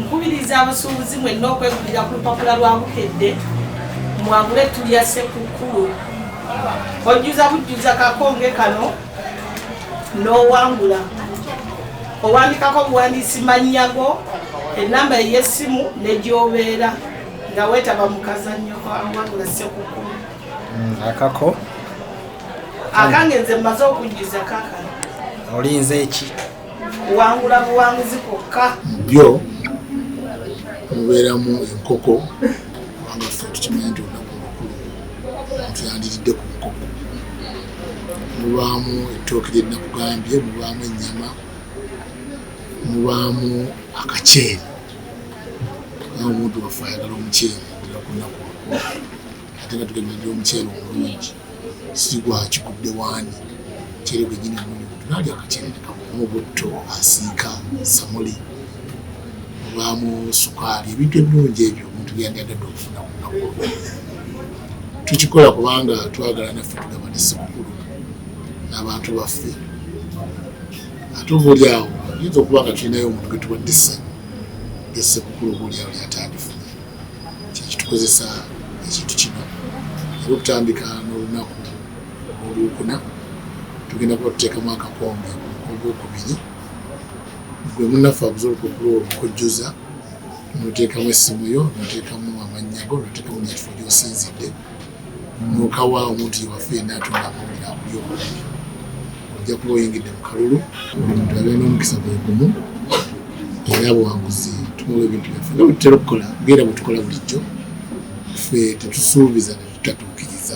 Nkubiriza abasuubuzi mwenna okwegulira ku lupapula lwa Bukedde mwagule ettu lya Ssekukkulu. Ojjuza bujjuza kakonge kano n'owangula. Owandikako obuwandiisi mannya go, ennamba ey'essimu ne gy'obeera nga weetaba mu kazannyo kawangula Ssekukkulu. Mm, akako akange nze mmaze okujjuza kakano olinze eki kuwangula buwanguzi kwokka byo mubeeramu enkoko kubanga ffe tukimanyi nti olunaku olukulu omuntu yandiridde ku nkoko mubaamu ettooke lye nakugambye mubaamu ennyama mubaamu akaceeri naye omuntu waffe ayagala omuceeri era ku nnaku ate nga tugenderedde omuceere omulungi sigwakigudde waani muceere gwenyini omulungi tunaalya akaceere nekamu butto asiika samuli obwamu sukaali ebintu ebirungi ebyo omuntu byandyagadde okufuna ku lunaku olwo tukikola kubanga twagala naffe tugaba ne sikukulu n'abantu baffe ate obuli awo yinza okuba nga tulinayo omuntu gwe tuwadde essanyu esekukulu obuli awo lyatandifuna kyekitukozesa ekintu kino era okutandika n'olunaku olwokuna tugenda kuba tuteekamu akakombe ogwokubiri gwe munaffe abuza olupapula olwo okujjuza noteekamu essimu yo noteekamu amannya go noteekamu nekifo gyosinzidde Muka wa omuntu yewaffe yenna atunga amawulire akulya obulungi ojja kuba oyingidde mu kalulu. Buli muntu abeera n'omukisa gwe gumu era buwanguzi tumuwa ebintu byaffe nga bwetutera okukola ngaera bwetukola bulijjo ffe tetusuubiza netutatuukiriza.